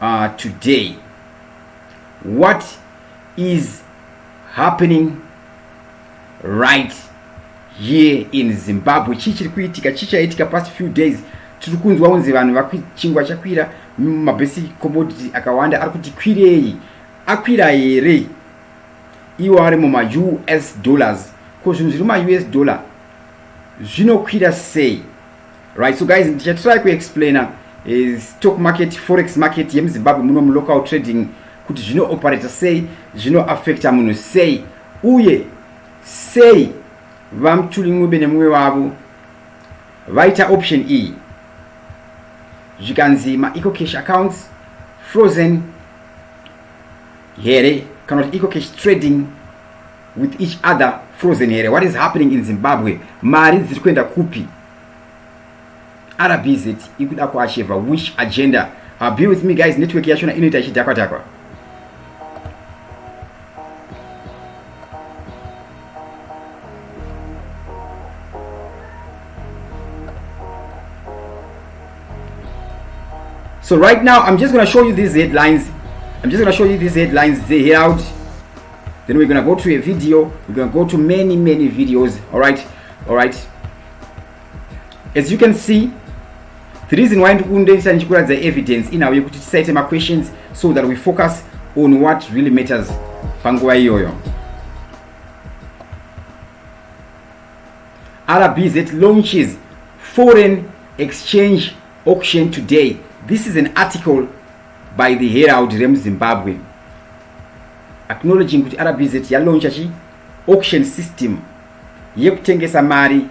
uh, today what is happening right here in zimbabwe chii chiri kuitika chii chaitika past few days tiri kunzwa unzi vanhu chingwa chakwira mabasic commodity akawanda ari kuti kwirei akwira here iwo ari mumaus dollars ko zvinhu zviri mumaus dollar zvinokwira sei Right, so guys, ndichatry kuexplaina eh, stock market, forex market yemuzimbabwe muno mulocal trading kuti zvinooperator sei, zvinoaffecta munhu sei, uye sei vamtuli ncube nemumwe wavo vaita option iyi e. zvikanzi maecocash accounts frozen here kana kuti ecocash trading with each other frozen here what is happening in zimbabwe mari dziri kuenda kupi rbz ikuda kuacheva which agenda uh, be with me guys network yachona inoita ichidhakwa dhakwa So right now, I'm just going to show you these headlines. I'm just going to show you these headlines. They held then we're gonna go to a video we're gonna go to many many videos all right all right as you can see the reason why ndikundesa ndichikuratidza evidence inhau yekuti tisaite maquestions so that we focus on what really matters panguva iyoyo rbz launches foreign exchange auction today this is an article by the Herald remuZimbabwe acknowledging kuti RBZ yalauncha chi auction system yekutengesa mari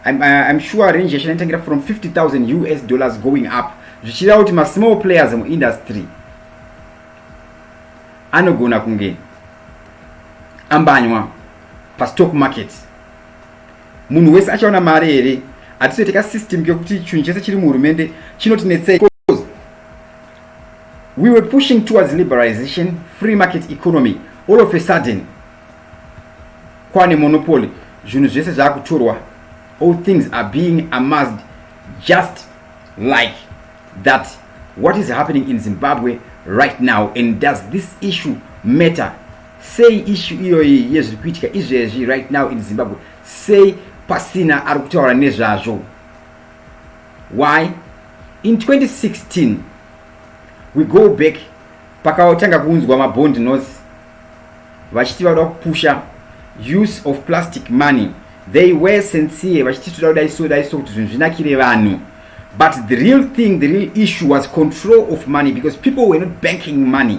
I'm, uh, I'm sure range yacho inotengera from 50000 us dollars going up zvichireva kuti masmall players muindustry anogona kunge ambanywa pastock market Munhu wese achaona mari here? Hatisoite ka system kekuti chinhu chese chiri muhurumende chinotinetsei because we were pushing towards liberalization, free market economy. All of a sudden kwane monopoly, zvinhu zvese zvakutorwa. All things are being amassed just like that. What is happening in Zimbabwe right now and does this issue matter Sei issue iyoyi yezviri kuitika izvezvi right now in Zimbabwe sei pasina ari kutaura nezvazvo? Why? In 2016 we go back pakatanga kuunzwa mabond notes vachiti vada kupusha use of plastic money they were sincere vachiti toda kudai so dai so kuti zvinhu zvinakire vanhu but the real thing the real issue was control of money because people were not banking money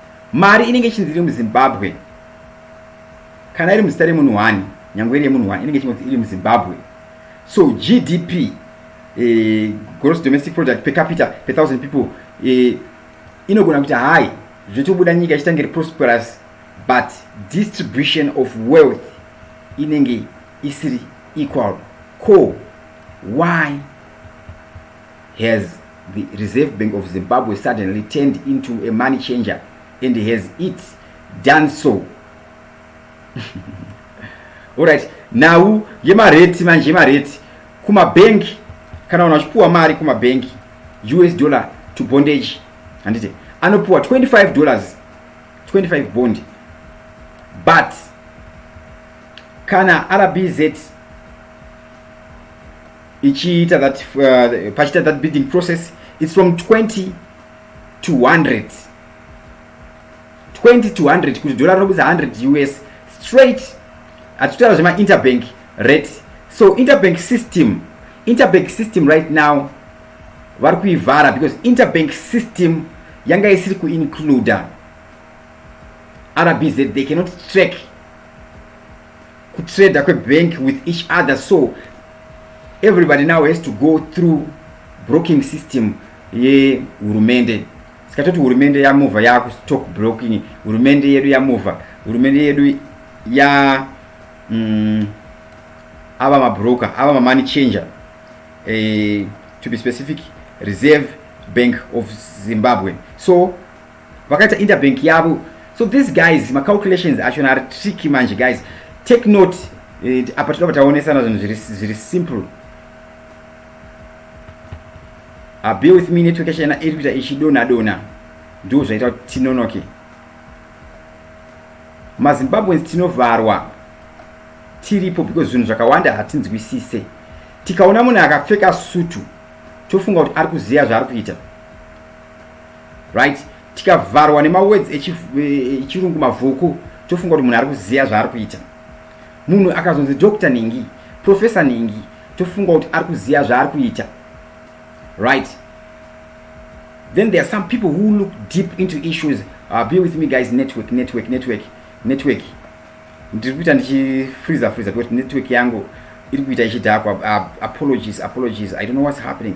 Mari inenge ichinzi iri muZimbabwe kana iri muzita remunhu wani nyangwe iri yemunhu wani inenge ichingonzi iri muZimbabwe so GDP eh, gross domestic product per capita per thousand people eh, inogona kuti hai zvotobuda nyika ichitange prosperous but distribution of wealth inenge isiri equal ko why has the Reserve Bank of Zimbabwe suddenly turned into a money changer and has it done so alright nhau yemareti manje yemareti kumabhengi kana vanhu vachipuwa mari kumabhengi us dollar to bondage handiti anopuwa 25 dollars 25 bond but kana rbz ichiita that uh, pachiita that bidding process it's from 20 to 100 20 to 100 kuti dollar rinobudisa 100 us straight hatitaura zvemainterbank rate so interbank system interbank system right now vari kuivhara because interbank system yanga isiri kuincluda rbz they cannot track kutrader kwebank with each other so everybody now has to go through broking system yehurumende sikatoti hurumende yamova yakustock broking hurumende yedu yamova hurumende yedu ya mm, ava mabroker ava mamoney changer eh, to be specific reserve bank of zimbabwe so vakaita interbank yavo so these guys macalculations achona ari tricky manje guys take note eh, apa tinoba taonesana zvinhu zviri simple abe ah, with me network yachena iri kuita ichidona dona ndo zvaita kuti tinonoke mazimbabweans tinovharwa tiripo because zvinhu zvakawanda hatinzwisise tikaona munhu akapfeka sutu tofunga kuti ari kuziva zvaari kuita right tikavharwa nemawords echirungu mavhuku tofunga kuti munhu ari kuziva zvaari kuita munhu akazonzi doctor ningi professor ningi tofunga kuti ari kuziva zvaari kuita right then there are some people who look deep into issues uh, be with me guys network network network network ndiri kuita ndichifreezer freezer because network yangu iri kuita ichidhakwa uh, apologies apologies i don't know what's happening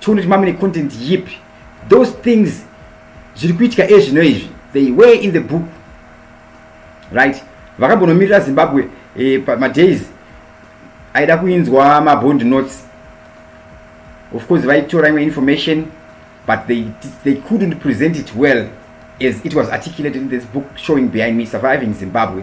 Tune kuti mamine content yipi. Those things zviri kuitika ezvino izvi they were in the book right vakambonomirira zimbabwe eh, madays aida kuinzwa mabond notes of course vaitora imwe information but they, they couldn't present it well as it was articulated in this book showing behind me surviving zimbabwe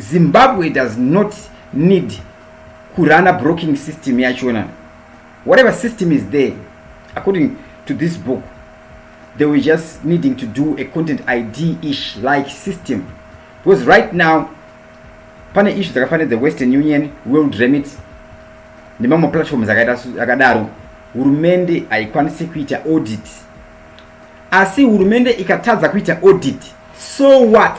Zimbabwe does not need kurana broking system yachona whatever system is there according to this book they were just needing to do a content id ish like system because right now pane ishu dzakafanira dzewestern union world remit nemamwe platforms akadaro hurumende haikwanisi kuita audit asi hurumende ikatadza kuita audit so what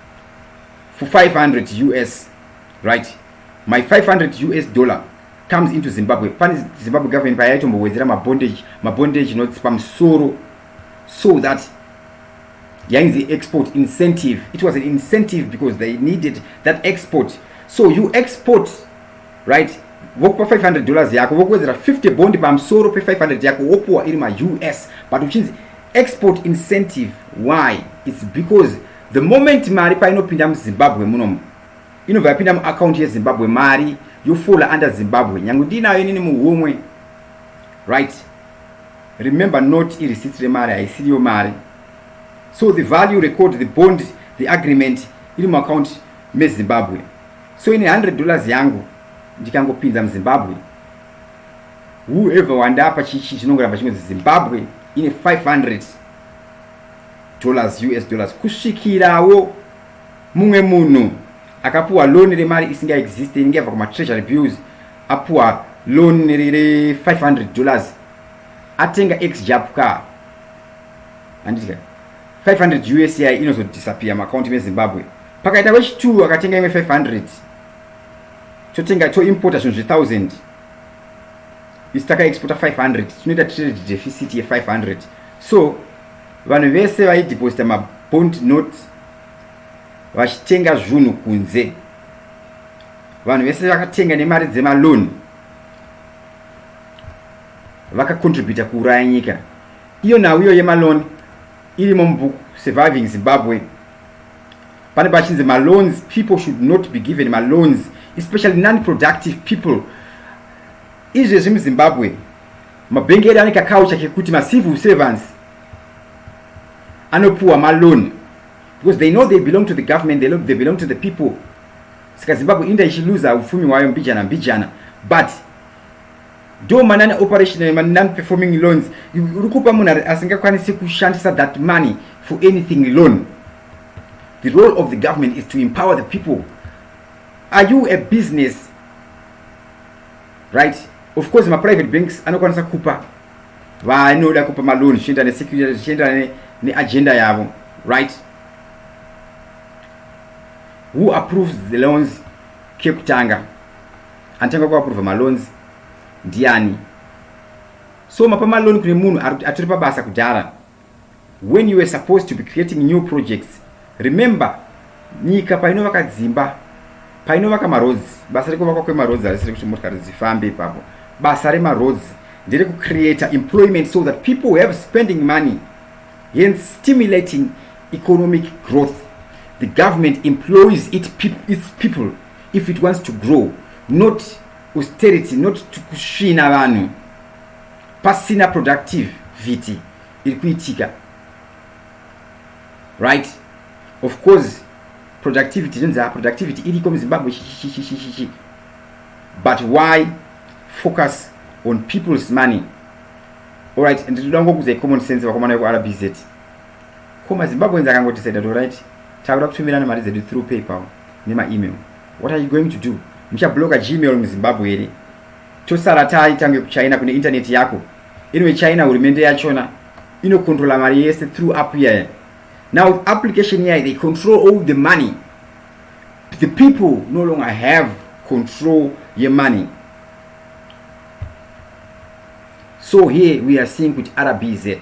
for 500 us right my 500 us dollar comes into zimbabwe pane zimbabwe government paya yaitombohwedzera mabondage mabondage notes pamusoro so that yainzi export incentive it was an incentive because they needed that export so you export right vokupa 500 dollars yako vokuwedzera 50 bond pamusoro pe500 yako wopuwa iri maus but uchinzi export incentive why its because The moment mari painopinda muZimbabwe munomu inobva yapinda muaccount yeZimbabwe mari yofola under Zimbabwe nyange ndiinayo inini muhumwe right remember not ireceipt remari haisiriyo mari so the value record the bond the agreement iri muaccount meZimbabwe so ine 100 dollars yangu ndikangopinza muZimbabwe whoever wandapa chichi chinongoramba chinonzi Zimbabwe ine 500 dollars us dollars kusvikirawo mumwe munhu akapuwa loan remari isingaexiste inenge yabva kumatreasury bills apuwa loan re500 dollars atenga exjap car handidya 500 usi inozodisappear maakaunti mezimbabwe pakaita wechitwo akatenga imwe 500 totenga toimporta zvinhu zve1000 isi takaexpota 500 tinoita trade deficit ye 500 so vanhu vese vaideposita mabond note vachitenga zvunhu kunze vanhu vese vakatenga nemari dzemaloni vakacontributa kuuraya nyika iyo nhau iyo yemaloni irimo mubhuku surviving zimbabwe pane pachinzi maloans people should not be given maloans especially nonproductive people izvezvi muzimbabwe mabhengi edu ane kakaucha kekuti macivil servants anopuwa maloan because they know they belong to the government they, they belong to the people saka zimbabwe inda ichiluza upfumi hwayo mbijana mbijana but do manani operational ma non performing loans uri kupa munhu asingakwanisi kushandisa that money for anything loan the role of the government is to empower the people are you a business right of course ma private banks anokwanisa kupa vanoda kupa maloan zvichienda nesecurity zvichienda neagenda yavo right who approves the loans kekutanga Anotanga kuapprova maloans ndiani? So mapa maloan kune munhu atori pabasa kudhara when you were supposed to be creating new projects remember nyika painovaka dzimba painovaka maroads basa rekuvakwa kwemaroads harisi rekuti motikari dzifambe ipapo basa remaroads ndere kucreata employment so that people have spending money hence stimulating economic growth the government employs it pe its people if it wants to grow not austerity not kusvina vanhu pasina productive vhiti iri kuitika right of course productivity zvinzi ah, productivity iriko muzimbabwe chichichichichichi but why focus on people's money allright nditoda ngokuza common sense vakomana vekurbz Ko ma Zimbabweans akangoti said to right takuda kutumirana mari dzedu through PayPal nema email. What are you going to do? Muchabloka Gmail mu Zimbabwe here? Tosara tari tange ku China kune internet yako. Inwe China hurumende yachona ino controla mari yese through app yaya. Now application yaya they control all the money. The people no longer have control ye money. So here we are seeing with RBZ.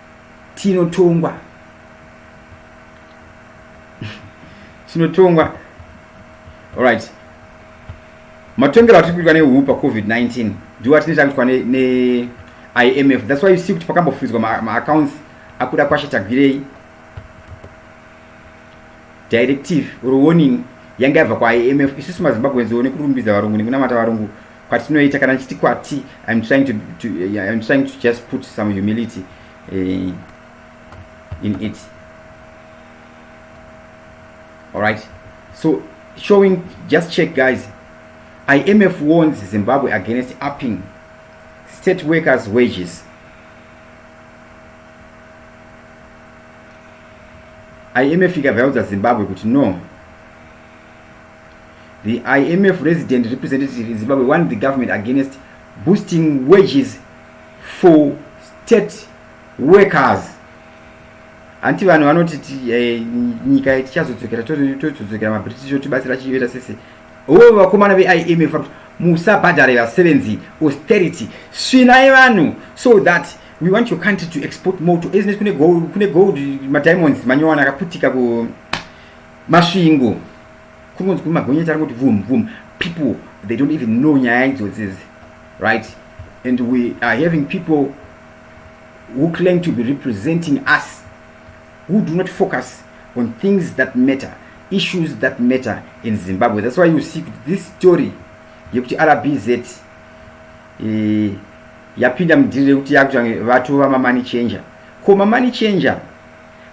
tinotongwa tinotongwa alright matongero atiri kuitwa nehuu pacovid-19 ndiwo atine takuitwa neimf thats why you see kuti pakambofuidzwa maaccounts ma akuda kwashe tagwirei directive or warning yanga yabva kwaimf isusu mazimbabweans one kurumbidza varungu nekunamata varungu kwatinoita kana ndichiti kwati im trying to, to, uh, I'm trying to just put some humility uh, in it all right so showing just check guys imf warns zimbabwe against upping state workers wages imf ikabva yaudza zimbabwe kuti no The IMF resident representative in Zimbabwe warned the government against boosting wages for state workers hanti vanhu vanoti eh, nyika tichazodzokera tozodzokera mabritish otibatsira chiveta sese oo vakomana veimf vakuti musabhadhare vasevenzi austerity svinai vanhu so that we want your country to export more to kune gold madiamonds manyowana akaputika ku Masvingo kunonzi kune magonyeti ari kuti vum vum people they don't even know nyaya idzodzi idzi right and we are having people who claim to be representing us who do not focus on things that matter issues that matter in zimbabwe that's why you see this story yekuti rbz eh, yapinda mudhiri rekuti yakuti vatu vamamani changer ko mamani changer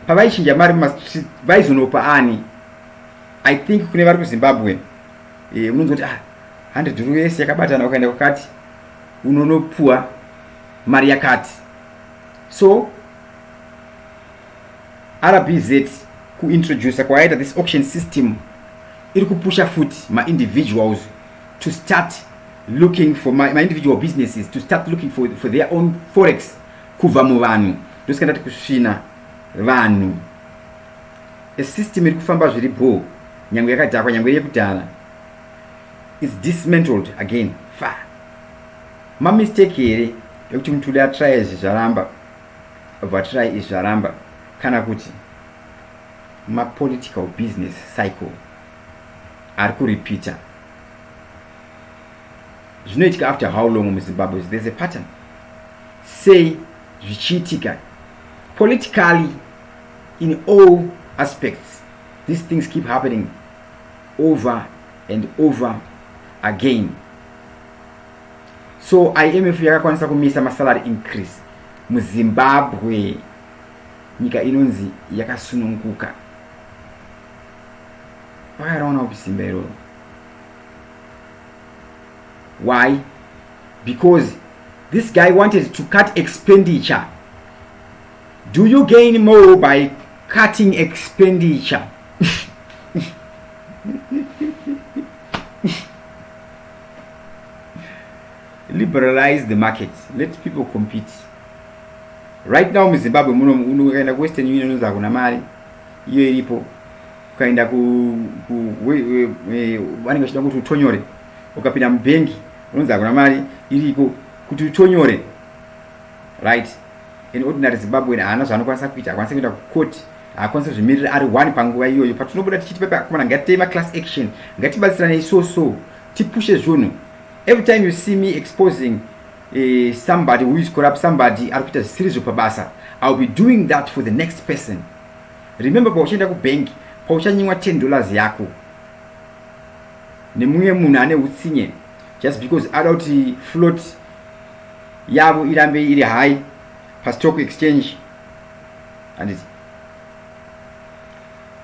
pavaichinja mari mumastreet vaizonopa ani i think kune vari kuzimbabwe eh, unonzwa kuti ah, hundred rues yakabatana ukaenda kwakati unonopuwa mari yakati so rbz kuintroducer kwayaita this auction system iri kupusha futi maindividuals to start looking for my, my individual businesses to start looking for, for their own forex Kubva muvanhu ndosika ndati kusvina vanhu. A system iri kufamba zviri bhoo nyange yakadhakwa nyange yekudhara is dismantled again fa mamistake here ekuti mutudi atry izvi zvaramba vatry izvi zvaramba kana kuti mapolitical business cycle ari kurepeater zvinoitika after how long muzimbabwe there's a pattern Sei zvichiitika? Politically in all aspects these things keep happening over and over again. So IMF yakakwanisa kumisa masalary increase muZimbabwe nyika inonzi yakasununguka. Vakaraona kupi simba iroro? Why? Because This guy wanted to cut expenditure. Do you gain more by cutting expenditure? Liberalize the market. Let people compete. Right now in Zimbabwe, muno ukaenda kuWestern Union unonzi hakuna mari iyo iripo. Ukaenda ku vanenge vachida kuti utonyore ukapinda mubank unonzi hakuna mari iriko kuti utonyore right an ordinary zimbabwean haana zvaanokwanisa kuita akwanisa kuenda kucourt haakwanisa kuzvimirira ari one panguva iyoyo patinobuda tichiti pepe akomana ngatitei maclass action ngatibatsiranei so so tipushe zvunhu every time you see me exposing uh, somebody who is corrupt somebody ari kuita zvisiri zvo pabasa iwill be doing that for the next person remember pauchaenda kubank pauchanyimwa 10 dollars yako nemumwe munhu ane utsinye just because ada kuti float yavo irambe iri high pastock exchange handiti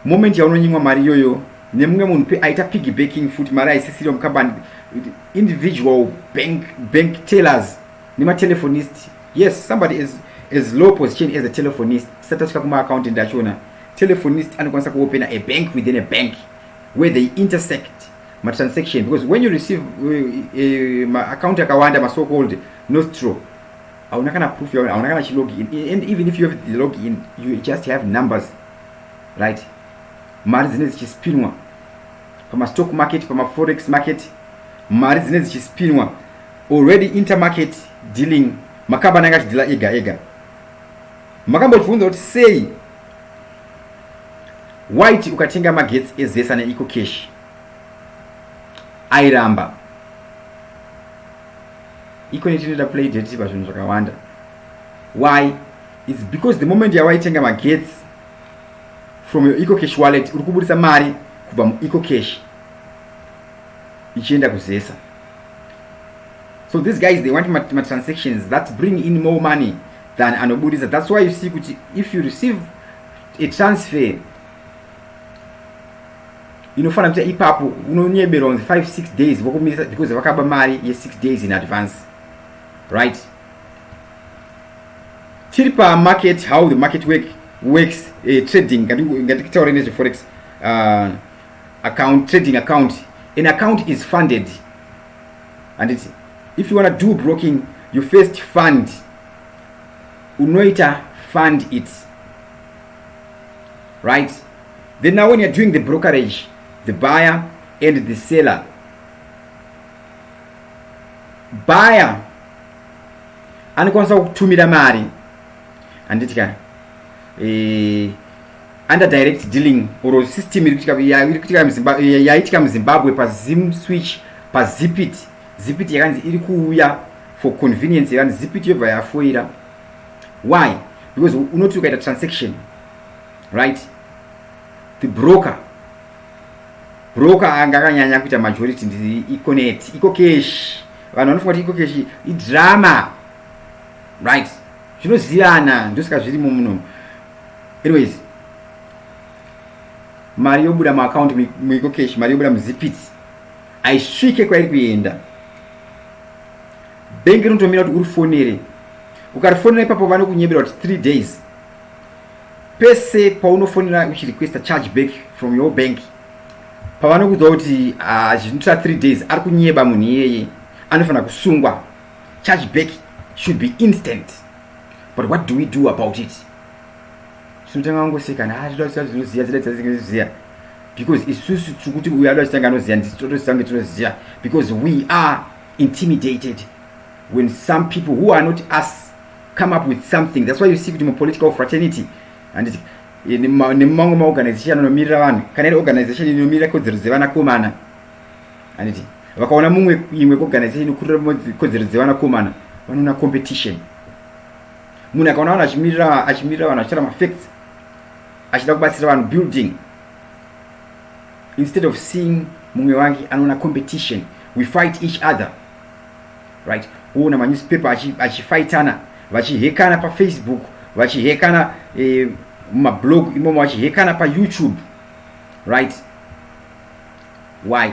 moment yaunonyimwa mari iyoyo nemumwe munhu pe aita piggy backing futi mari aisisiriwa mukambani individual bank, bank tellers nematelefonist yes somebody is as low position as a telefonist sati asvika kumaaccountant achona telefonist anokwanisa kuopena a bank within a bank where they intersect matransaction because when you receive uh, uh, maaccount akawanda maso called nostro hauna kana proof yaona hauna kana chilog in and even if you have the log in you just have numbers right mari dzine dzichispinwa pamastock market pamaforex market mari dzine dzichispinwa already intermarket dealing makabana anga achidhila ega ega makambobvunza kuti sei Waiti ukatenga magetsi ezesa neiko keshi airamba iko netinoita play date pazvinhu zvakawanda why its because the moment yawaitenga magetsi from your eco cash wallet uri kubudisa mari kubva mueco cash ichienda kuzesa so these guys they want matransactions that bring in more money than anoburitsa thats why you see kuti if you receive a transfer inofanira kuita ipapo unonyeberwa kunzi 5 6 days vokumirisa because vakaba mari ye6 days in advance right tiri pamarket how the market work works uh, trading ngatikitaure nezveforex uh, account trading account an account is funded handiti if you wanna do broking you first fund unoita fund it right then now when you're doing the brokerage the buyer and the seller buyer anokwanisa kutumira mari handiti ka eh, under direct dealing or system yaitika muzimbabwe pazim switch pazipit zipit yakanzi iri kuuya for convenience yevani zipiti yobva yafoira why because unoti ukaita transaction right the broker broker anga akanyanya kuita majority ndi iconet iko cash vanhu vanofunga kuti iko cash idrama right zvinozivana ndosika zvirimo muno anyways mari yobuda muaccount muiko cash mari yobuda muzipiti haisvike kwairi kuenda bhengi rinotomira kuti urifonere ukarifonera ipapo vanokunyebera kuti three days pese paunofonera uchirequesta charge back from your bank pavanokudza kuti ah, zvinotora three days ari kunyeba munhu iyeye anofanira kusungwa charge back should be instant but what do we do about it tinotanga kungoseka na zvida kuziva zvinoziva zida dzazinoziva because isusu tiri kuti uyo ada chitanga anoziva ndisi totositange tinoziva because we are intimidated when some people who are not us come up with something that's why you see kuti mupolitical fraternity handiti eh, nemumamwe maorganization anomirira vanhu kana iri organization inomirira kodzero dzevanakomana handiti vakaona mumwe imwe organization inokurira kodzero dzevanakomana vanoona competition munhu akaona vanhu achimirira achimirira vanhu achitaura mafacts achida kubatsira vanhu building instead of seeing mumwe wake anoona competition we fight each other right woona manewspaper achifaitana vachihekana pafacebook vachihekana eh, mumablog eh, imomo vachihekana payoutube right why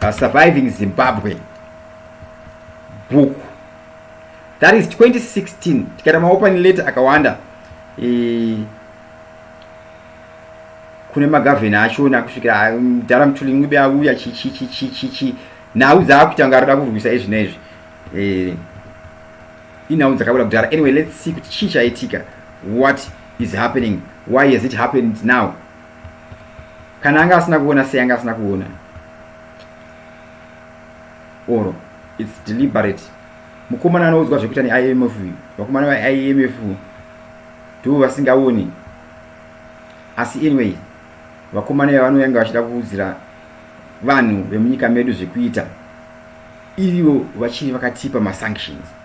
pasurviving zimbabwe book that is 2016 tikaita maopen letter akawanda e, kune magavheni achona kusvikira mdhara um, mtulingibe auya chichichichichichi nhau dzaakuita kunge arikuda kurwisa izvi neizvi e, inhau dzakabuda kudhara anyway let's see kuti chii chaitika what is happening why has it happened now kana anga asina kuona sei anga asina kuona or its deliberate mukomana anoudzwa zvekuita neimf vakomana vaimf ndivo vasingaoni asi anyway vakomana iva vanoyanga vachida kuudzira vanhu vemunyika medu zvekuita ivo vachiri vakatipa masanctions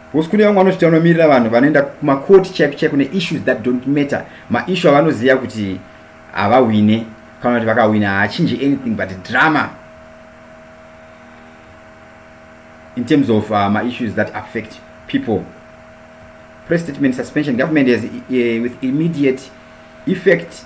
Hoskuni vamwe vanoti vanomirira vanhu vanoenda kumakoti chaiko chaiko neissues that don't matter maissue avanoziva kuti havahwine kana kuti vakahwina haachinje anything but drama in terms of uh, maissues that affect people press statement suspension government has uh, with immediate effect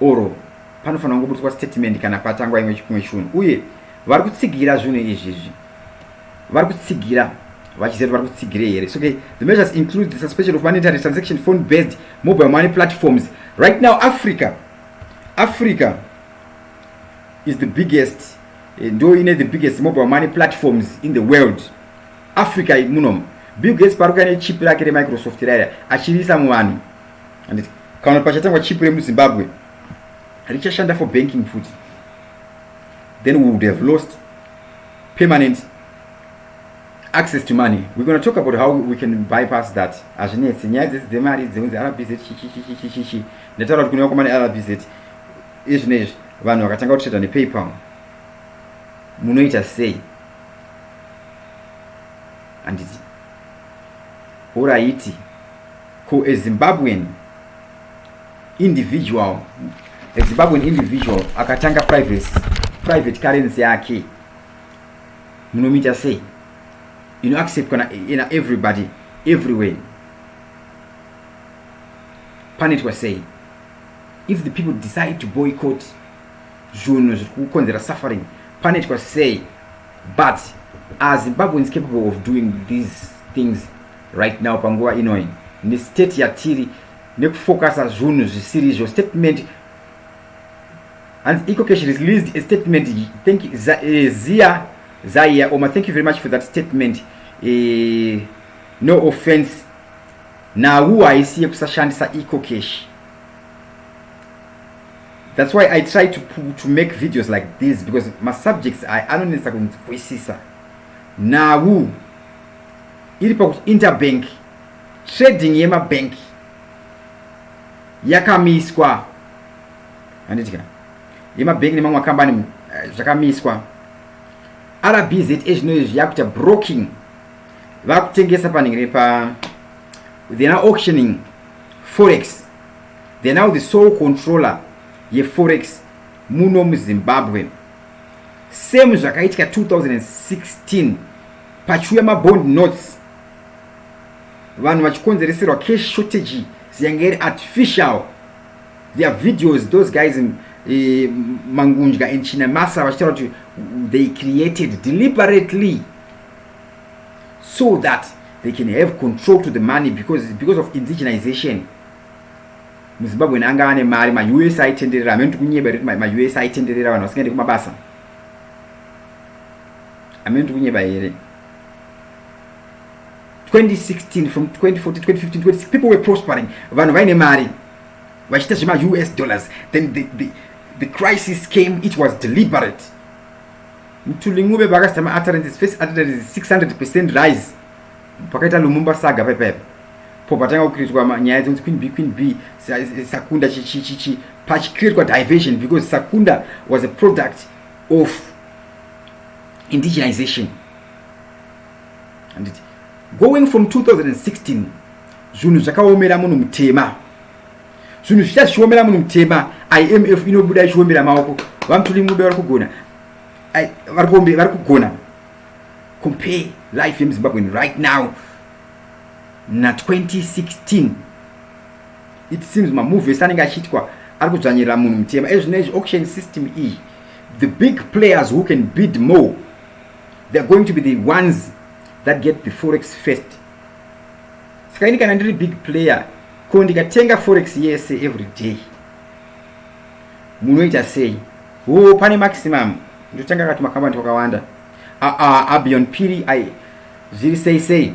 or panofanira kungobutswa statement kana patangwa imwe chimwe chunhu uye vari kutsigira zvinhu izvi izvi vari kutsigira vachiziva kuti vari kutsigirei here so okay the measures include the suspension of monetary transaction phone based mobile money platforms right now africa africa is the biggest eh, ndo ine the biggest mobile money platforms in the world africa munomu bill gates paruka nechip rake remicrosoft raya achiriisa muvanhu and kana pachatangwa chip remuzimbabwe richashanda for banking futi then we would have lost permanent access to money we're going to talk about how we can bypass that hazvinetsi nyaya dzese dzemari dzeunzi rbz chichichichichichi ndataura kuti kuneva kwamane rbz izvi neizvi vanhu vakatanga kutreda nepaypal munoita sei handiti oraiti Ko a Zimbabwean individual a Zimbabwean individual akatanga privacy private currency yake munomuita sei ino acceptwa na, na everybody everywhere panoitwa sei if the people decide to boycott zvunhu zviri kukonzera suffering panoitwa sei but are zimbabweans capable of doing these things right now panguva inoi nestate yatiri nekufokasa zvunhu zvisiri izvo statement hanzi ikokesh released a statement thank eh, zia zaiya oma thank you very much for that statement eh, no offense nawu haisi yekusashandisa ecocash that's why i try to, to make videos like this because masubjects aya anonetsa kunzwisisa nawu iri pakuti interbank trading yemabank yakamiswa handiti kana yemabank nemamwe makambani eh, zvakamiswa rbza zvinoizvi yakuita broking vakutengesa panenge nepa they're now auctioning forex they're now the sole controller yeforex muno muzimbabwe same zvakaitika 2016 Pachiuya mabond notes vanhu vachikonzereserwa cash shortage ziyange iri artificial there are videos those guys in eh, mangunja and chinamasa vachitaura kuti they created deliberately so that they can have control to the money because, because of indigenization muzimbabwe naanga ane mari maus aitenderera amene tikunyeba rekuti maus aitenderera vanhu vasingaende kumabasa amene ndikunyeba here 2016 from 2014 2015 2016 people were prospering vanhu vaine mari vachiita zvema us dollars then the, the, the crisis came it was deliberate mtulingube vakasita ma utterances first utterances 600 percent rise pakaita lumumba saga paipaepa po patanga kukriitwa nyaya dzonzi queen b queen b sakunda chichichichi pachikriitwa diversion because sakunda was a product of indigenization handiti going from 2016 zvinhu zvakaomera munhu mutema zvinhu zvichita zvichiomera munhu mutema imf inobuda ichiombera maoko vamutuli mube vari kugona vari vari kugona compare life yemuzimbabwen right now na 2016 It seems mamovie ese anenge achiitwa ari kudzvanyirira munhu mutema ezvino izvi auction system iyi the big players who can bid more theyare going to be the ones that get the forex first saka ini kana ndiri big player ko ndikatenga forex yese every day munoita sei wo pane maximum ndotanga kati makambani twakawanda aa abion piri ai zviri sei sei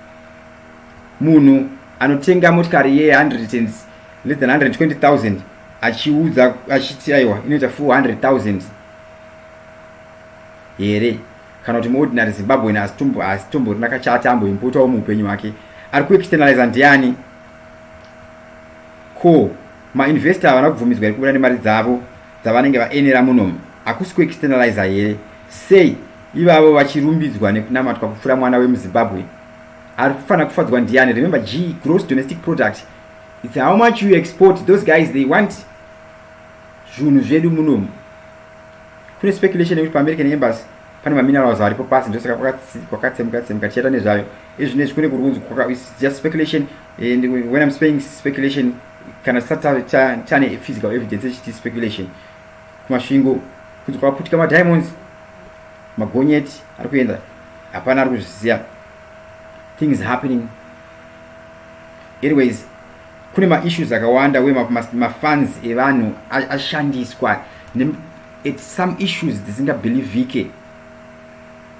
munhu anotenga motikari ye 100 less than 120000 achiudza achiti aiwa inoita 400000 here kana kuti muordinary zimbabwean asitomborina kachati amboimpotawo muupenyu hwake ari kuexternaliza ndiani ko mainvestor havana kubvumidzwa iri kubuda nemari dzavo dzavanenge vaenera munomu hakusi kuexternaliza here sei ivavo vachirumbidzwa nekunamatwa kupfura mwana wemuzimbabwe ari kufanira kufadzwa ndiani remember g gross domestic product its how much you export those guys they want zvunhu zvedu munomu kune speculation yekuti paamerican embassy pane maminerals aripo pasi ndosaka kwakatsemuka tsemuka tichaita nezvayo izvinezvi kune kurunzi just speculation and when i'm spaying speculation kana chisati chave chane physical evidence echiti speculation kumasvingo kuti kwaputika madiamonds magonyeti ari kuenda hapana ari kuzviziva things happening anyways kune maissues akawanda uye mafans evanhu ashandiswa at some issues dzisingabhilivhike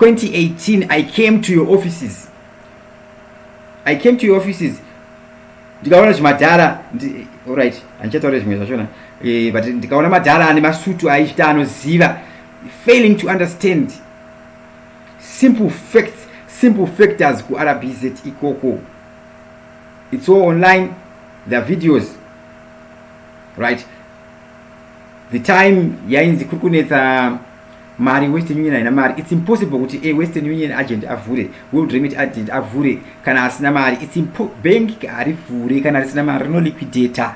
2018 i came to your offices i came to your offices ndikaona zvimadhara orit handichataura zvimwe zvachona eh, but ndikaona madhara ane masutu aichita anoziva failing to understand simple facts simple factors kurbz ikoko it's all online the videos right the time yainzi kuri kunetsa mari western union haina mari its impossible kuti a western union agent avhure world remit agent avhure kana asina mari its bank harivhure kana risina mari rino liquidata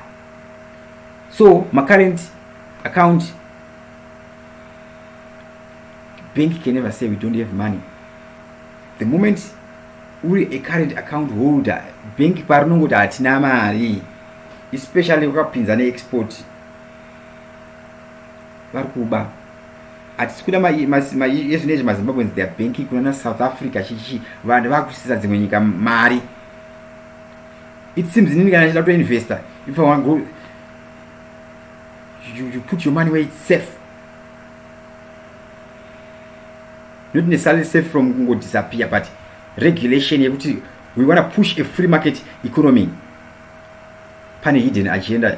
so macurrent account bank can never say we don't have money the moment uri a current account holder bank parinongoti hatina mari especially ukapinza neexport vari kuba hatisi kuda ezvinezvi mazimbabweans their banking kunana south africa chichi vanhu vakusisa dzimwe nyika mari it seems inini kana chida kutoinvesta if i want go you, you put your money where it's safe not necessarily safe from kungo disappear but regulation yekuti we want to push a free market economy pane hidden agenda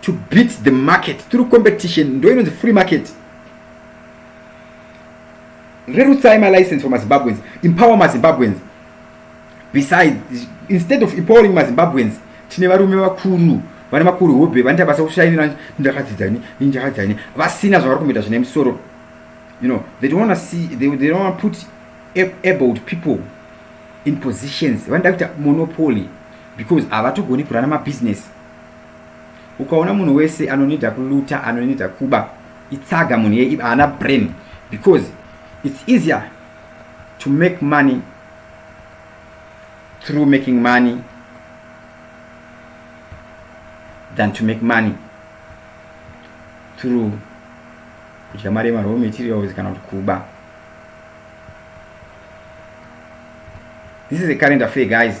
to beat the market through competition ndo inonzi free market rerutsai malicense for mazimbabweans empower mazimbabweans besides instead of empowering mazimbabweans tine varume vakuru vane makuru hobe vanoita basa kushainira ndakadzidza ini ndakadzidza ini vasina zvavari kumboita zvine musoro you know they don't want to see they, they don't want to put abled people in positions vanoda kuita monopoly because havatogoni kurana mabusiness ukaona munhu wese anonida kuluta anonida kuba itsaga munhu yei haana brain because it's easier to make money through making money than to make money through kudya mari yemaraw materials kana kuti kuba this is a current affair guys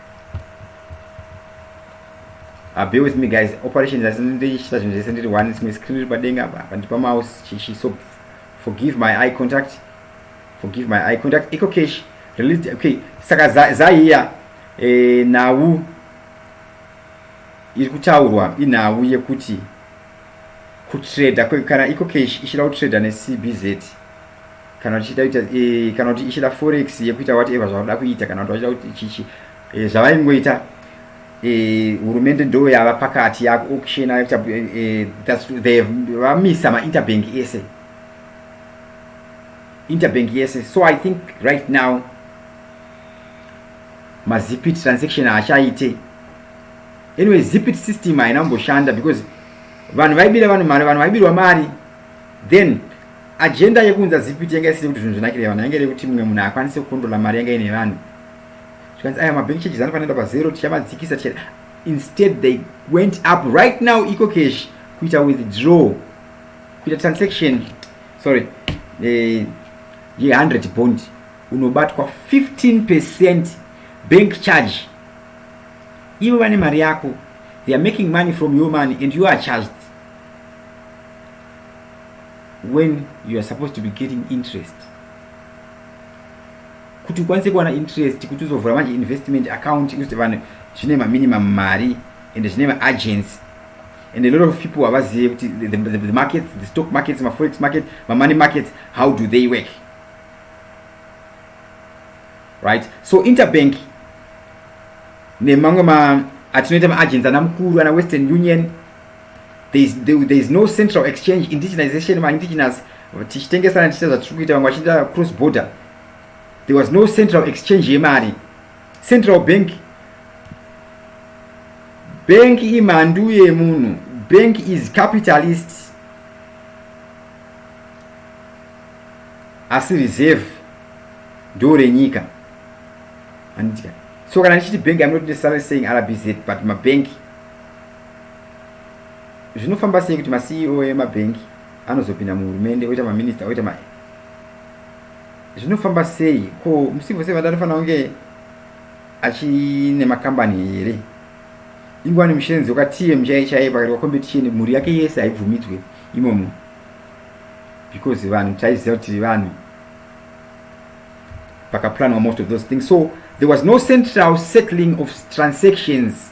Uh, be with me guys operation asi ndichiita zvinhu zvese ndiri one simwe screen iri padenga apa pandipa mouse chichi so forgive my eye contact forgive my eye contact eco cash released okay saka zaiya eh, nhau iri kutaurwa inhau yekuti kutrader kana ecocash ichida kutrader necbz kana tichida kuita e, kana kuti ichida forex yekuita whatever zvavada kuita kana kuti vachida kuti chichi e, eh, zvavaingoita e, eh, hurumende ndo yava pakati yako auction yakuita e, e, vamisa mainterbank ese interbank yese so i think right now mazipit transaction haachaite anyway zipit system haina kumboshanda because vanhu vaibira vanhu mari vanhu vaibirwa mari then agenda yekuunza zipiti yanga isiri kuti zvinhu zvinakire vanhu yanga iri kuti mumwe munhu akwanise kukondrola mari yanga ine vanhu zvikanzi aya mabank charges anofanira pa zero tichamadzikisa ticha instead they went up right now eco cash kuita withdraw kuita transaction sorry eh, ye 100 bond unobatwa 15 percent bank charge ivo vane mari yako they are making money from your money and you are charged when you are supposed to be getting interest kuti ukwanise kuwana interest kuti uzovhura manje investment account ikuti vanhu zvine maminimum mari ende zvine maagency and a lot of people havazive kuti the, the, the markets the stock markets maforex market mamoney markets how do they work right so interbank nemamwe ma atinoita maagency ana mukuru ana western union there is, there, there is no central exchange indigenization ma indigenous tichitengesana tichiita zvatiri kuita vamwe vachiita cross border there was no central exchange yemari central bank bank imhandu yemunhu bank is capitalist asi reserve ndo renyika anditika so kana ndichiti bank amnot necessarily saying rbz but mabank zvinofamba sei kuti maceo emabhengi anozopinda muhurumende oita maminista oita ma zvinofamba sei ko mucivil servant anofanira kunge achine makambani here ingwani mushenzi yoka tm chaiye chaiye pakati wakombeticheni mhuri yake yese haibvumidzwe imomo because vanhu taiziva kuti vanhu pakaplanwa most of those things so there was no central settling of transactions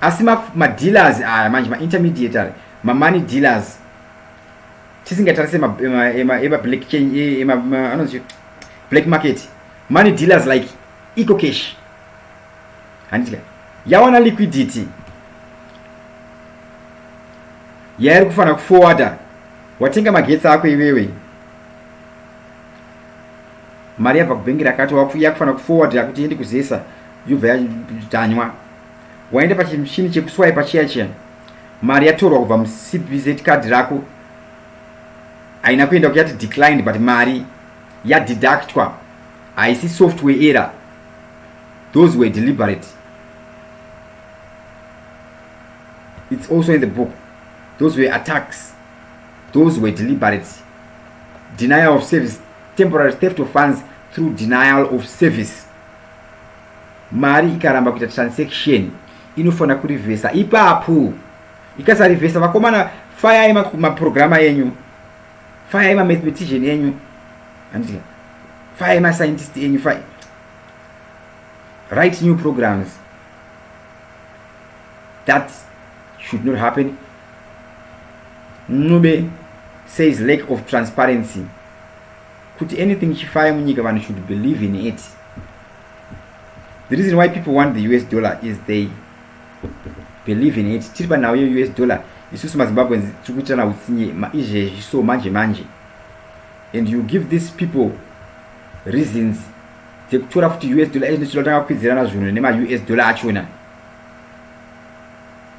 asi madealers ma aya manje maintermediatory mamoney dealers tisingatarise emablack chain anonzi black market money dealers like eco cash handitika yawana liquidity yairi kufanira kuforwarda watenga magetsi ako iwewe mari yabva kubhengi rakati yakufana kufowadira kuti iende kuzesa yobva yatanywa waenda pachimushini chekuswaipa chiya chiya mari yatorwa kubva mucbz card rako haina kuenda kuyati declined but mari yadeductwa haisi software error those were deliberate it's also in the book those were attacks those were deliberate denial of service Temporary theft of funds through denial of service. Mari ikaramba kuita transaction inofanira kurivhesa ipapo. Ikasarivhesa vakomana fayai maprograma enyu. Fayai mamathematician enyu. Handika. Fayai mascientist enyu. Fayai. Write new programs. That should not happen. Ncube says lack of transparency kuti anything chifaye munyika vanhu should believe in it the reason why people want the us dollar is they believe in it tiri panhau yeus dollar isusu mazimbabweans tiri kuitirana utsinye izvezvi so manje manje and you give these people reasons dzekutora futi us dollar inotoda kutanga kukwidzirana zvinhu nemaus dollar achona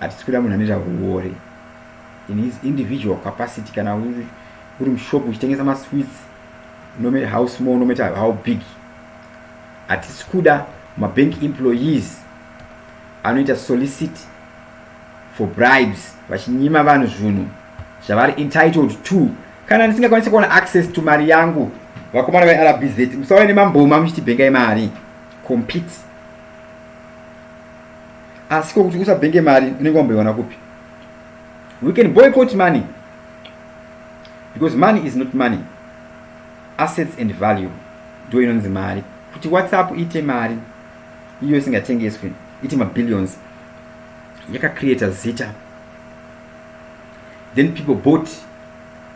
Hatisi kuda munhu anoita huwori in his individual capacity kana uri mushop uchitengesa masweets no matter how small no matter how big hatisi kuda mabank employees anoita solicit for bribes vachinyima vanhu zvinhu zvavari entitled to kana ndisingakwanisi kuona access to mari yangu vakomana verbz musauya nemamboma muchitibhengai mari compete asi ko kuti usabhenge mari unenge wamboiwana kupi we can boycott money because money is not money assets and value ndo inonzi mari kuti whatsapp iite mari iyo isingatengeswi iti mabillions yakacreata zita then people bought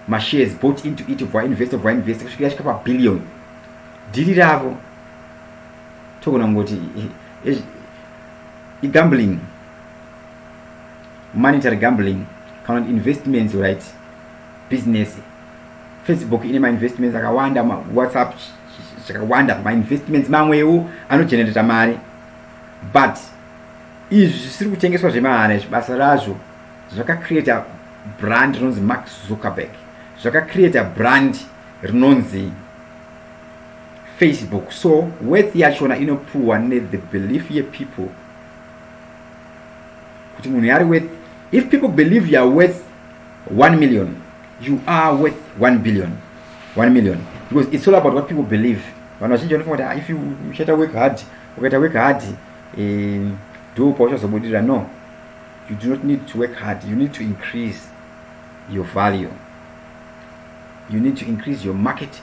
mashares bought into it vainvesta vainvesta kusvikira yasvika pabillion dhiri ravo togona kungoti igambling monetary gambling kana kuti investments right business facebook ine mainvestments akawanda whatsapp zvakawanda mainvestments mamwewo anogenerata mari but izvi zvisiri kutengeswa zvemahara izvi basa razvo zvakacreata brand rinonzi mark zuckerberg zvakacreata brand rinonzi Facebook so worth yachona inopuwa ne the belief ye people kuti munhu yari worth if people believe you are worth 1 million you are worth 1 billion 1 million because it's all about what people believe vanhu vazhinji vanofunga kuti ah, if uchaita work hard ukaita work hard eh, ndo pauchazobudirira no you do not need to work hard you need to increase your value you need to increase your market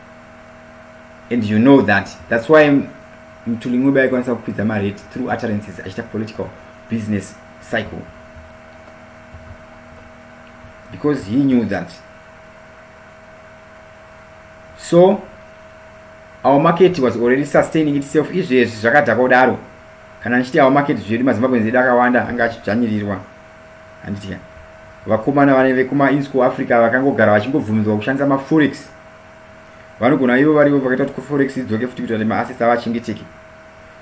and you know that that's why mtuli ncube aikwanisa kukwidza marate through utterances achiita political business cycle because he knew that so our market was already sustaining itself izvezvi zvakadhakwa kudaro kana ndichiti our market zvedu mazimbabweans edu akawanda anga achidzvanyirirwa handiti ka vakomana vane vekuma in school africa vakangogara vachingobvumidzwa kushandisa maforex vanogona ivo varivo vakaita kuti kuforex idzoke futi kuita kuti maassets avo achengeteke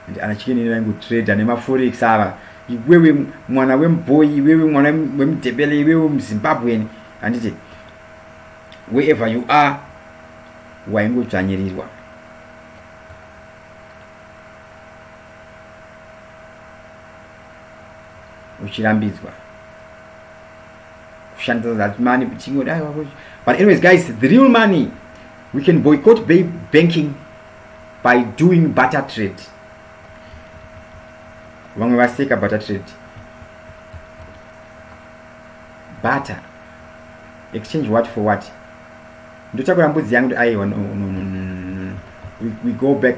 and ana chikenini vaingotrader nemaforex ava iwewe mwana wemubhoy iwewe mwana wemudebele iwewe muzimbabwen handiti wherever you are waingodzvanyirirwa uchirambidzwa kushandisa that money kuchingo dai wako but anyways guys the real money we can boycott bay banking by doing butter trade vamwe vaseka butter trade butter exchange what for what ndotakura mbudzi yangu kuti aiwa no, no, no, no, no. We, we go back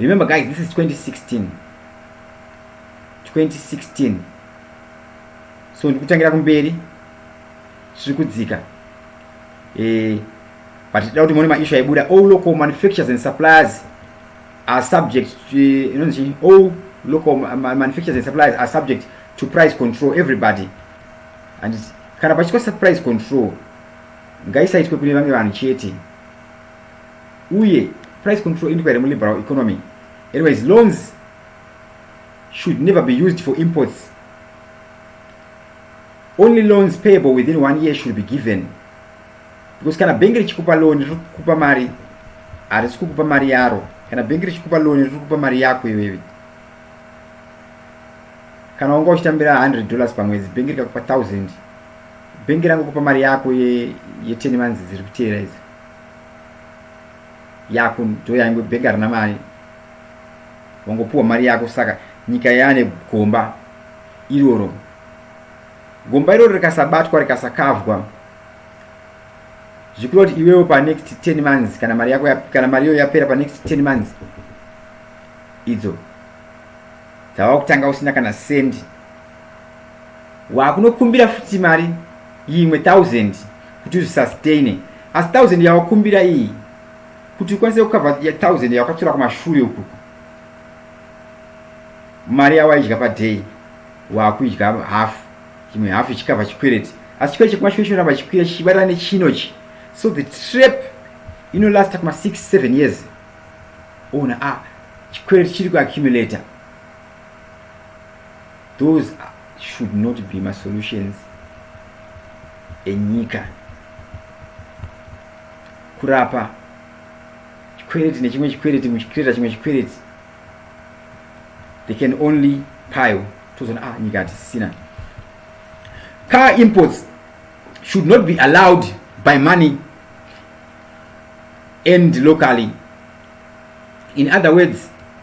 remember guys this is 2016 2016 so ndikutangira kumberi tiri kudzika eh, but tida kuti muone maishu aibuda all local manufactures and suppliers are subject eh, inonzi all local manufactures and suppliers are subject to price control everybody and kana pachikosa price control ngaisaitwe kune vamwe vanhu chete uye price control indiko here muliberal economy anyways loans should never be used for imports only loans payable within one year should be given because kana bhengi richikupa loan riri kukupa mari harisi kukupa mari yaro kana bhengi richikupa loan riri kukupa mari yako iwewe kana wanga uchitambira 100 dollars pamwedzi bhengi rikakupa 1000 bhengi rangokupa mari yako ye10 ye months dziri kuteera idzi yako ndoya ingwe bhengi harina mari wangopiwa mari yako saka nyika yaane gomba iroro gomba iroro rikasabatwa rikasakavwa zvikureva kuti iwewo panext 10 months kana mari yako kana mari iyo yapera panext 10 months idzo dzava kutanga usina kana sendi wakunokumbira futi mari yimwe thousand kuti uzvisastaine asi thousand yawakumbira iyi kuti ukwanise kukava thousand yawakatora kumashure uku mari yawaidya paday wakuidya half chimwe half ichikava chikwereti asi chikwereti chekumashure chinoramba chikwira chichibatana nechinochi so the trap inolasta kuma 6 7 years ona a ah, chikwereti chiri kuaccumulator those should not be masolutions enyika kurapa chikwereti nechimwe chikwereti muchikireta chimwe chikwereti they can only pile tozoona ah nyika hatisisina car imports should not be allowed by money and locally in other words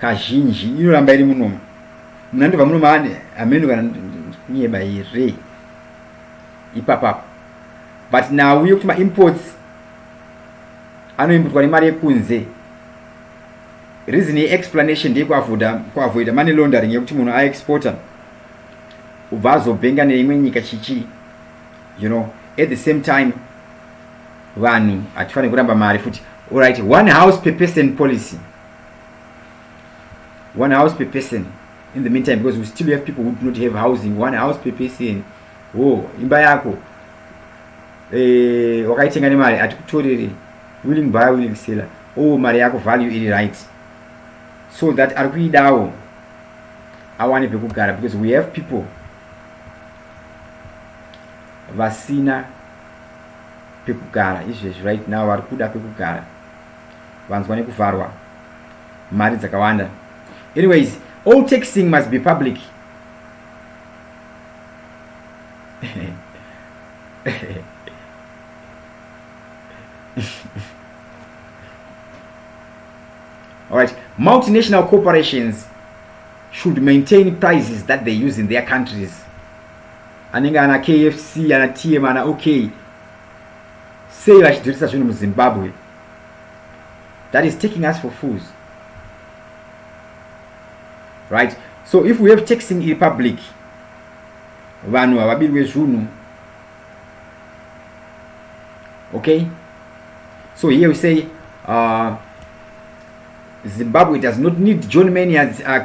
kazhinji inoramba iri munomu munhu andobva munomu ane hameno kana kunyeba here ipapapo but nhau yekuti maimports anoimbutwa nemari yekunze reason yeexplanation ndeyekuavoida money laundering yekuti munhu aexporter ubva azobhenga neimwe nyika chichii you know at the same time vanhu hatifanire kuramba mari futi orit one house per person policy one house per person in the meantime because we still have people who do not have housing one house per person wo oh, imba yako eh, wakaitenga nemari hatikutorere willing buyer willing seller o oh, mari yako value iri right so that ari kuidawo awane pekugara because we have people vasina pekugara izvezvi right now vari kuda pekugara vanzwa nekuvharwa mari dzakawanda anyways all taxing must be public all right multinational corporations should maintain prices that they use in their countries anenge ana kfc ana tm ana ok sei vachidzorisa zvinhu muzimbabwe that is taking us for fools right so if we have taxing iri public vanhu havabirwe zvunhu okay so here we say uh, zimbabwe does not need john manias uh,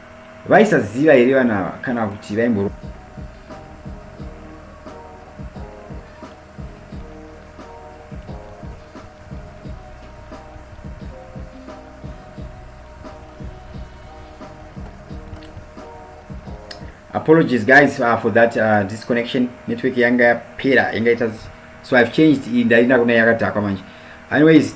Vaisaziva here vana ava kana kuti vaimboro apologies guys uh, for that uh, disconnection network yanga yapera yanga ita so i've changed ndainda kuna yakadhakwa manje anyways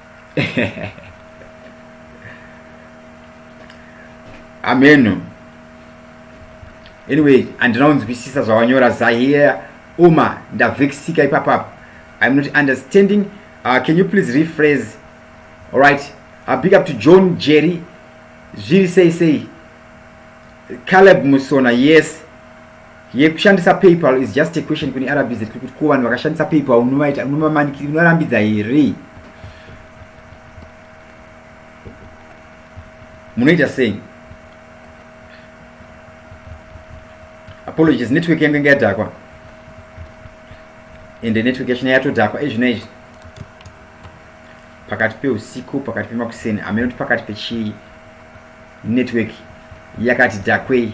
ameno anyway handina kunzwisisa zvawanyora zahiya uma ndavhekisika ipapapa iam not understanding uh, can you please rephrase alright uh, big up to john jerry zviri sei sei caleb musona yes Yekushandisa PayPal is just a question kune RBZ kuti kuti ko vanhu vakashandisa PayPal unovaita unomamanikira unorambidza here? Munoita sei? Apologies network yangu inga yadhakwa. Ende network yacho yatodhakwa ezvino izvi. Pakati peusiku, pakati pemakuseni, ameno kuti pakati pechi network yakati dhakwei.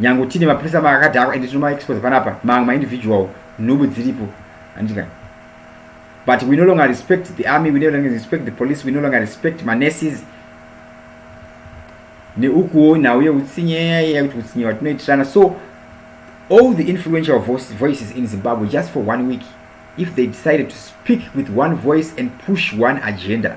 nyange tine mapurisa makadhakwa and tinoma expose panapa mamwe maindividual nhubu dziripo andika but we no longer respect the army we no longer respect the police we no longer respect manurses neukuwo nhau yeutsinye yakuti utsinye watinoitirana so all the influential voices in zimbabwe just for one week if they decided to speak with one voice and push one agenda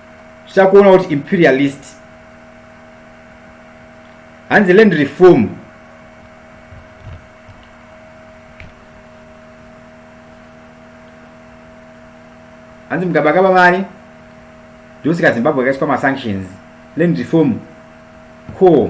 tichida kuona kuti imperialist hanzi land reform hanzi mugabakaba mari ndosika zimbabwe yakaiswa masanctions land reform ko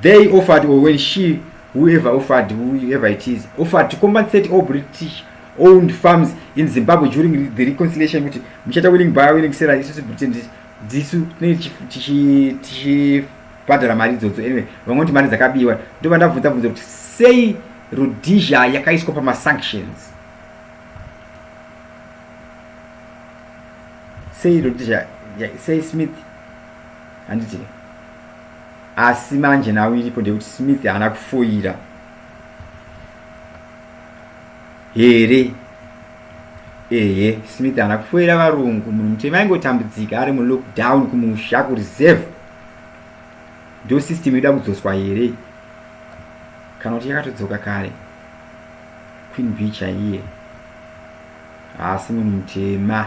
they offered or when she whoever offered whoever it is offered to compensate all british owned farms in zimbabwe during the reconciliation kuti muchata willing buyer willing seller isusu britain dzisu tinenge tichibhadhara mari idzodzo anyway vamwe kuti mari dzakabiwa ndova ndabvunza bvunza kuti sei rhodesia yakaiswa pamasanctions sei rhodesia sei smith handiti asi manje nhau iripo ndeyekuti smith haana kufoira here ehe smith haana kufoira varungu munhu mutema aingotambudzika ari mulockdown kumusha kureserve ndo system yoda kudzoswa here kana kuti yakatodzoka kare queen b chaiye haasi munhu mutema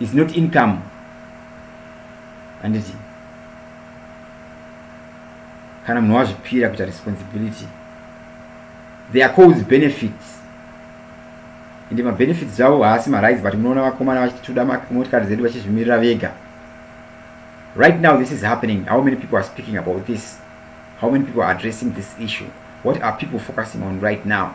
is not income handiti kana munhu wazvipira kuita responsibility they are called benefits ende mabenefits avo haasi marise but munoona vakomana vachitoda motikari zedu vachizvimirira vega right now this is happening how many people are speaking about this how many people are addressing this issue what are people focusing on right now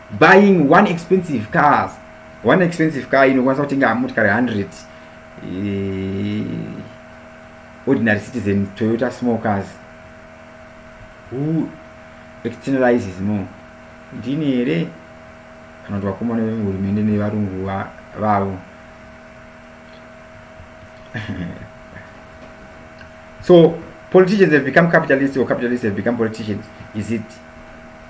buying one expensive cars one expensive car inokwanisa kutenga motikari 100 eh, ordinary citizen toyota small cars who externalizes more ndini here kana kuti vakomana vehurumende nevarungu vavo so politicians have become capitalists or capitalists have become politicians is it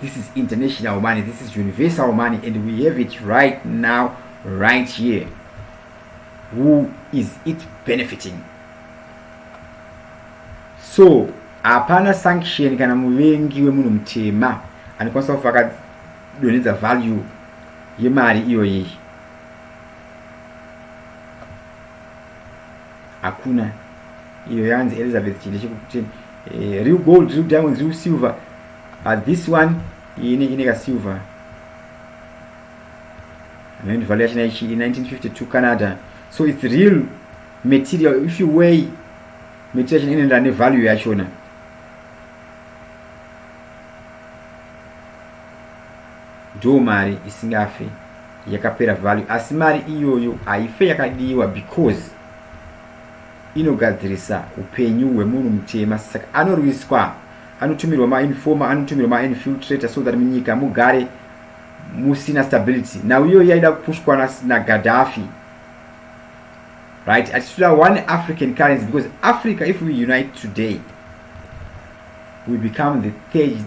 This is international money, this is universal money, and we have it right now, right here. Who is it benefiting? So, hapana sanction kana muvengi wemunhu mutema anokwanisa kufa akadonhedza value yemari iyoyi. hakuna iyo yanzi elizabeth chinde chekuti eh, real gold real diamonds real silver but this one ine ine ka silver and value yacho naichi in 1952 canada so it's real material if you weigh material yacho inoenderana nevalue yachona Ndoo mari isingafe yakapera value asi mari iyoyo haife yakadiwa because inogadzirisa upenyu hwemunhu mutema saka anorwiswa anotumirwa mainformer anotumirwa mainfiltrator so that munyika mugare musina stability now iyoyo yaida kupushwa nagadhafi right atitoda one african currency because africa if we unite today we become the third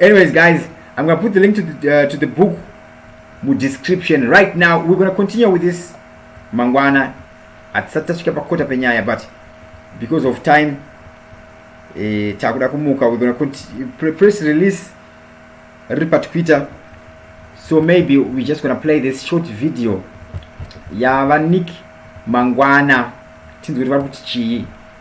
anyways guys i'm gonna put the link to the, uh, to the book mu description right now we're gonna continue with this mangwana hatisati tasvika pakota penyaya but because of time eh, takuda kumuka we're gonna continue, press release riri patwitter so maybe we're just gonna play this short video yavanik mangwana tinzwe kuti vari kuti chii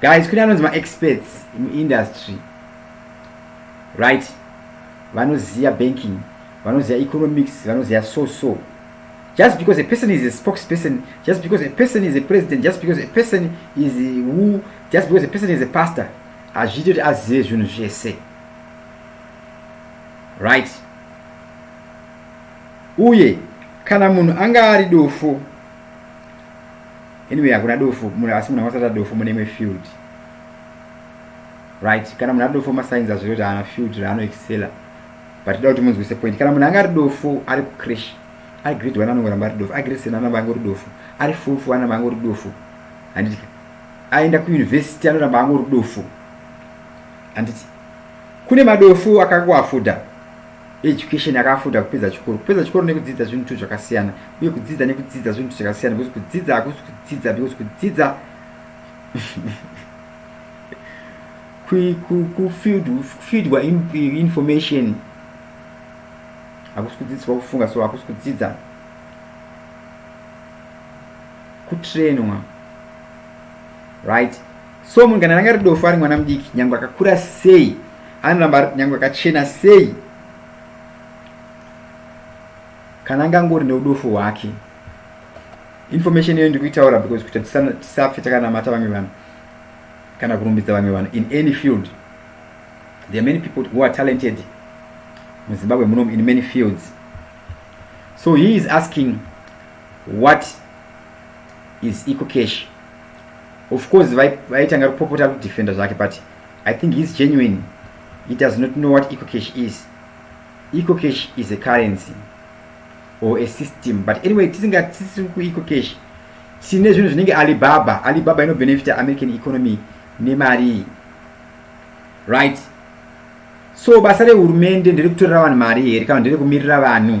guys kune anonzi maexperts muindustry right vanoziva banking vanoziva economics vanoziva so so just because a person is a spokesperson just because a person is a president just because a person is who just because a person is a pastor hazviiti kuti azive zvinhu zvese right uye kana munhu anga ari dofo anyway hakuna dofo muna asi munhu akasata dofo mune imwe field right kana munhu ari dofo masigns azviro kuti haana field raano excela but toda kuti munzwise point kana munhu anga ari dofo ari kucrash ari grade one anongoramba ari dofo ari grade seven anamba angori dofo ari full four anamba angori dofo handiti aenda kuuniversity anoramba angori dofo handiti kune madofo akangoafuda education yakafuta kupedza chikoro kupedza chikoro nekudzidza zvinhu two zvakasiyana uye kudzidza nekudzidza zvinhu zvakasiyana because kudzidza hakusi kudzidza because kudzidza kufidwa information hakusi kudzidziswa kufunga so hakusi kudzidza kutrainwa right so munhu kana ranga ridofo ari mwana mudiki nyange akakura sei anoramba ari nyange akachena sei kana anga angori neudofo hwake information iyoyo ndikuitaura because kuti tisafe takanamata vamwe vanhu kana kurumbidza vamwe vanhu in any field there are many people who are talented muzimbabwe munomu in many fields so he is asking what is ecocash of course vaitanga kupopota kudefenda zvake but i think he's genuine he does not know what ecocash is ecocash is a currency or a system but anyway tisingatisiri kuecocash sine zvinhu zvinenge alibaba alibaba inobenefita american economy nemari right so basa rehurumende ndere kutorera vanhu mari here kana ndere kumirira vanhu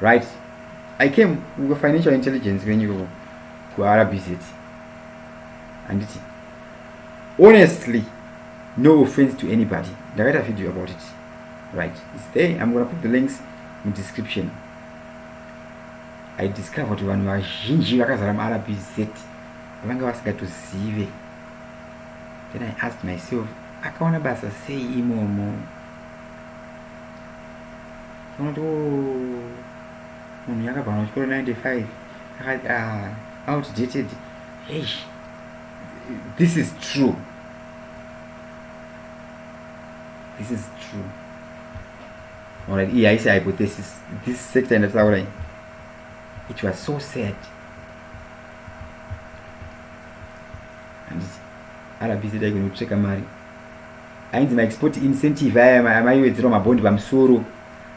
right i came uko financial intelligence kwenyu ikoko kurbz handiti honestly no offense to anybody ndakaita video about it right its there im gona put the links mudescription i discover kuti vanhu vazhinji vakazara murbz vanga vasingatozive then i asked myself akawana basa sei imomo unoti o munhu yakabva kana chikoro 95 akati ah, outdated hey this is true this is true alright iyi haisi hypothesis this sector ndataura iyi it was so sad handiti arabisi dai kunopsveka mari ainzi maexport incentive aya amaiwedzerwa mabhondi pamusoro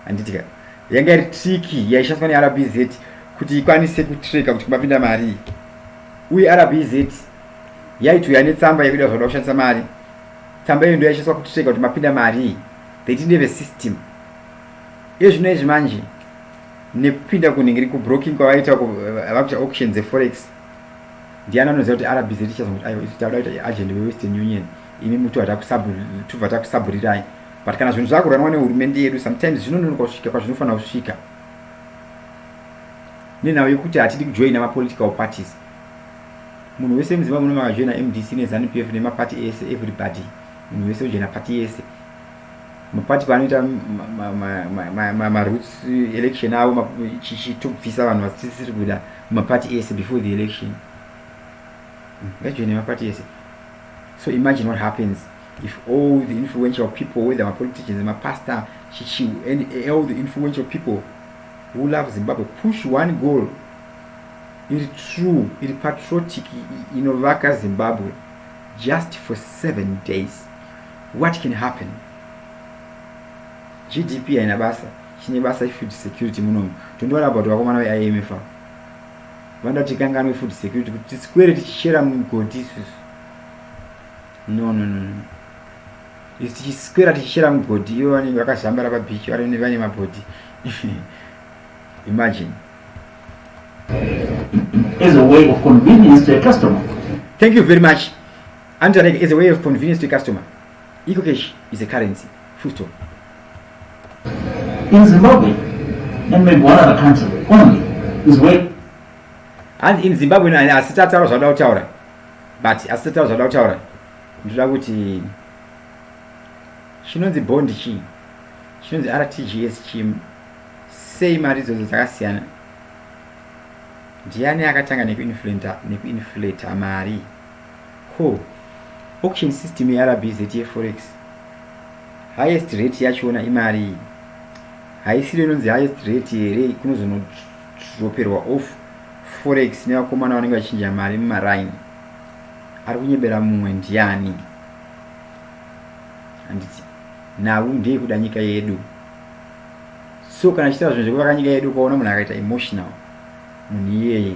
handitika yanga iri triki yaishandiswa nerbz kuti ikwanise kutreka kuti kumapinda mari uye rbz yaitouya netsamba yakuda zvakuda kushandisa mari tsamba iyo ndo yaishandiswa kutreka kuti mapinda mari they didn't have a system ezvino izvi manje nekupinda kunhingiri kubroking kwavaita vava kuita auction dzeforex Ndiani anoziva kuti RBZ ichazongoti aiwa isu tauda kuita agent weWestern Union imi muti tubva takusaburirai but kana zvinhu zvakuranwa nehurumende yedu sometimes zvinononoka kusvika kwazvinofanira kusvika nenhau yekuti hatidi kujoina mapolitical parties munhu wese muzimbabwe unomakajoina mdc nezanupf nemapati ese everybody munhu wese ujoina pati yese mapati paanoita maroots election avo chitobvisa vanhu vasisiri kuda mapati ese before the election vajoine mapati ese so imagine what happens if all the influential people whether mapoliticians mapastor chichi and all the influential people who love zimbabwe push one goal iri true iri patriotic inovaka zimbabwe just for seven days what can happen gdp haina basa chine basa ifood security munomu tondiona about vakomana veimf avo vanoda kuti tikanganwe food security kuti tisikwere tichichera mugoti isusu no no no no isu tichisikwera tichichera mugoti ivo vanenge vakazambara pabeach vari vane mabhodhi imagine as a way of convenience to a customer thank you very much Anti Alec as a way of convenience to a customer. Eco cash is a currency. Full stop. In Zimbabwe and maybe one other country only is where hanzi in zimbabwe no asi tataura zvauda kutaura but asi tataura zvauda kutaura ndinoda kuti chinonzi bond chii chinonzi rtgs chi sei mari idzodzo dzakasiyana ndiani akatanga nekuinflata mari ko auction system yeRBZ yeForex highest rate yachona imari haisiro inonzi highest rate here kunozonodroperwa off forex nevakomana vanenge vachinja mari mumaraini ari kunyebera mumwe ndiani handiti nhau ndeye kuda nyika yedu so kana chitaa zvinhu zvekuvaka nyika yedu ukaona munhu akaita emotional munhu iyeye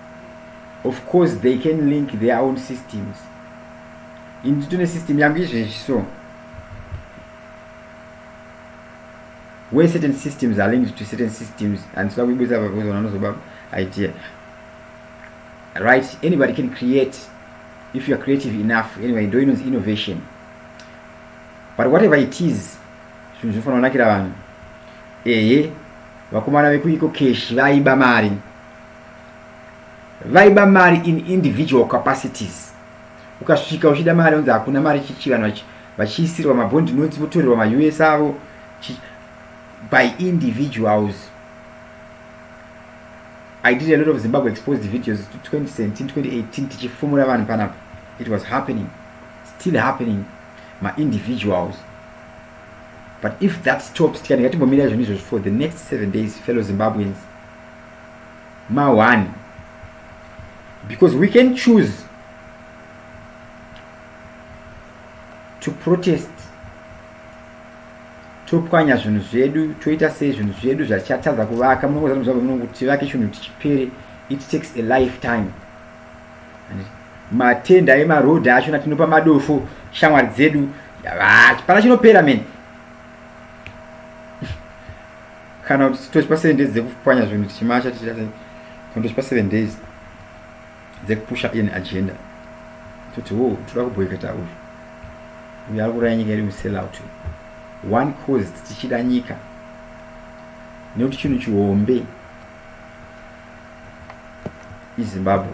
of course they can link their own systems ini nditone system yangu izvezvi so when certain systems are linked to certain systems and soda kuibudisa pakuzoona anozoba idea right anybody can create if youare creative enough anyway ndo inonzi innovation but whatever it is zvinhu zvinofanira kunakira vanhu ehe vakomana vekuiko keshi vaiba mari vaiba mari in individual capacities ukasvika uchida mari unzi hakuna mari chichi vanhu vachiisirwa mabond notes votorerwa maus avo by individuals i did a lot of zimbabwe exposed videos 2017 2018 tichifumura vanhu panapa it was happening still happening maindividuals but if that stops tikandinga timbomira izvoni izvozvo for the next seven days fellow zimbabweans ma one because we can choose to protest topwanya zvinhu zvedu toita sei zvinhu zvedu zvachatadza kuvaka munokuti tivake chinhu kuti chipere it takes a lifetime matenda emarodhi acho natinopa madofo shamwari dzedu hapana chinopera mene kana kuti tochipa seven days dzekupwanya zvinhu tichimacha tichita sei kana tochipa seven days dzekupusha in agenda toti wo toda kuboikata uyu uyu ari kuraya nyika iri musell out one cause tichida nyika nekuti chinhu chihombe izimbabwe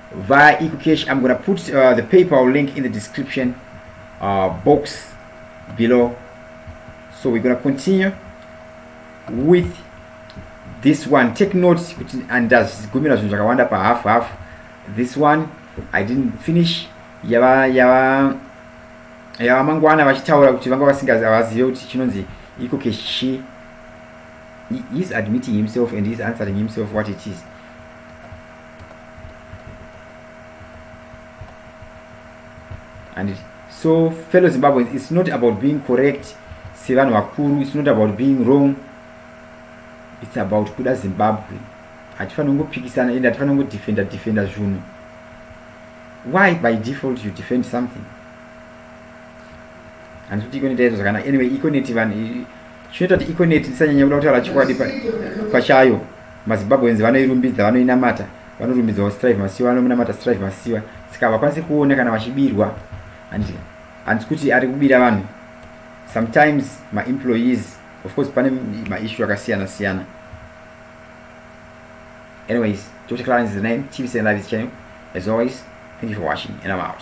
via ecocash i'm gonna put uh, the paypal link in the description uh, box below so we're gonna continue with this one take note kuti andazigumira zvinhu zvakawanda pahalf half this one i didn't finish yava yava yava mangwana vachitaura kuti vanga vasingavazive kuti chinonzi iko kechi heis admitting himself and heis answering himself what it is and so fellow zimbabweans it's not about being correct sevanhu vakuru it's not about being wrong it's about kuda zimbabwe hatifanira kungopikisana ende hatifanira kungodefenda defenda zvunhu why by default you defend something handikuti ikoneti yaizvo zvakanaka anyway ikoneti vanhu chinoita kuti econet tisanyanya kuda kutaura chokwadi pachayo mazimbabweans vanoirumbidza vanoinamata vanorumbidzawo strive masiwa vanomunamata strive masiwa saka havakwanisi kuona kana vachibirwa handisi kuti ari kubira vanhu sometimes maemployees of course pane maissue akasiyana siyana anyways dr clarence is the name tv send live channel as always thank you for watching and i'm out